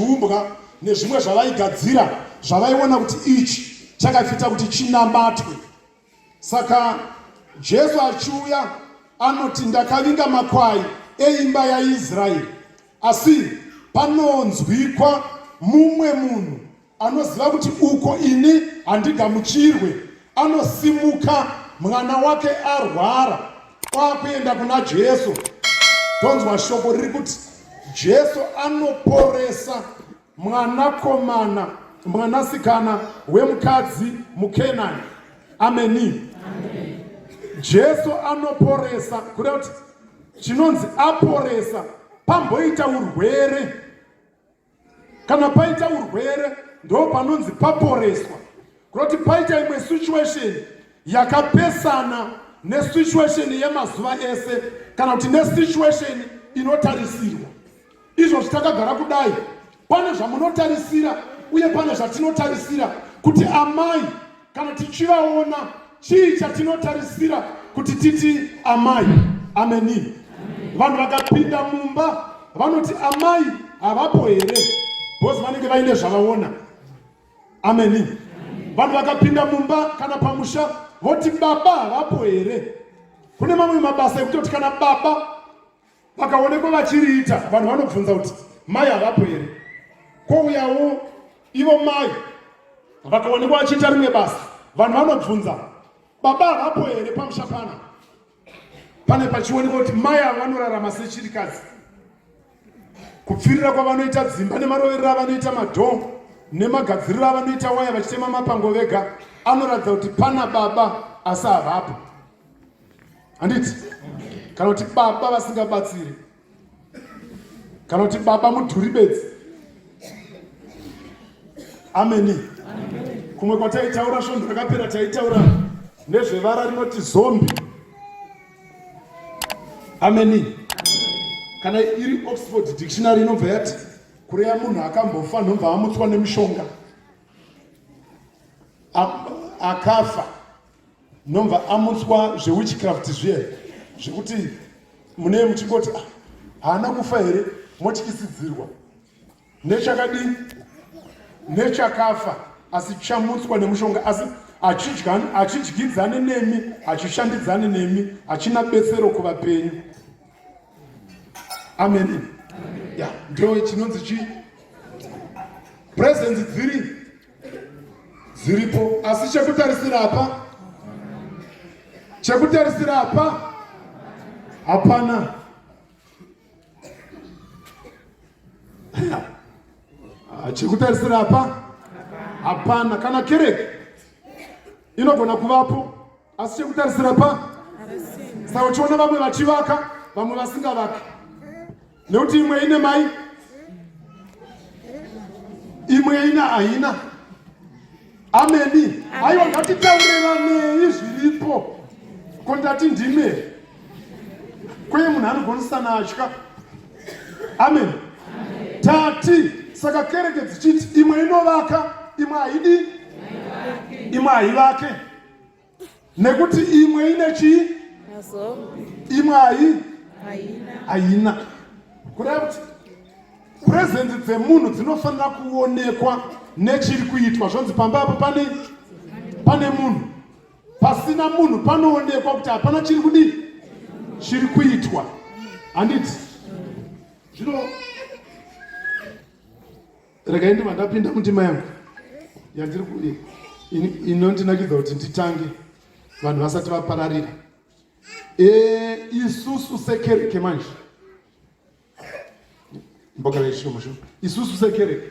zviumbwa nezvimwe zvavaigadzira zvavaiona kuti ichi chakafita kuti chinamatwe saka jesu achiuya anoti ndakavinga makwai eimba yaisraeri asi panonzwikwa mumwe munhu anoziva kuti uko ini handigamuchirwe anosimuka mwana wake arwara kwakuenda kuna jesu tonzwa shoko riri kuti jesu anoporesa mwanakomana mwanasikana wemukadzi mukenani ameni jesu anoporesa kureva kuti chinonzi aporesa pamboita urwere kana paita urwere ndo panonzi paporeswa kuroti paita imwe situation yakapesana nesituation yemazuva ese kana kuti nesituation inotarisirwa izvo zvitakagara kudai pane zvamunotarisira uye pane zvatinotarisira kuti amai Kana tichivaona, chii chatinotarisira kuti titi amai? Ameni. Vanhu vakapinda mumba vanoti amai havapo here? Bhozi vanenge vaine zvavaona. Ameni. Vanhu vakapinda mumba kana pamusha voti baba havapo here? Kune mamwe mabasa ekutoti kana baba vakaonekwa vachiriita vanhu vanobvunza kuti mai havapo here kwouyawo ivo mai vakaonekwa vachiita rimwe basa vanhu vanobvunza baba havapo here pamusha pana pane pachionekwa kuti mai avo vanorarama sechirikadzi kupfirira kwavanoita dzimba nemaroverero avanoita madhoo nemagadziriro avanoita waya vachitema mapango vega anoratidza kuti pana baba asi havapo handiti kana kuti baba vasingabatsiri kana kuti baba mudhuri bedzi ameni kumwe kwataitaura svondo rakapera taitaura nezvevara rinoti zombi ameni kana iri oxford dictionary inobva yati kureya munhu akambofa nobva amutswa nemishonga akafa Nomva amutswa zvewitchcraft zviya zvekuti mune muchingoti ah, haana kufa here motyisidzirwa nechakadii nechakafa asi chamutswa nemushonga asi hachidyidzane nemi hachishandidzane nemi hachina betsero kuvapenyu amen ya ndo chinonzi chii presence dziri dziripo asi chekutarisira apa chekutarisira apa hapana ah, chekutarisira apa hapana kana kereke inogona kuvapo asi chekutarisira pa saka uchiona vamwe vachivaka vamwe vasingavaki nekuti imwe ine mai imwe ina haina ameni aiwa ngatitaurevanei zviripo ko ndati ndime kweye munhu anogonisana atya amen tati saka kereke dzichiti imwe inovaka imwe haidi imwe haivake nekuti imwe ine chii imwe hai haina kureva kuti purezenzi dzemunhu dzinofanira kuonekwa nechiri kuitwa zvonzi pamba apo pane pane munhu pasina munhu panoonekwa kuti hapana chiri kudii chiri kuitwa handiti zvino Regai ndibva ndapinda mundima yangu yandiri kuye inondinakidza kuti nditange vanhu vasati vapararira e, isusu sekereke manje mboka veishomo sho isusu sekereke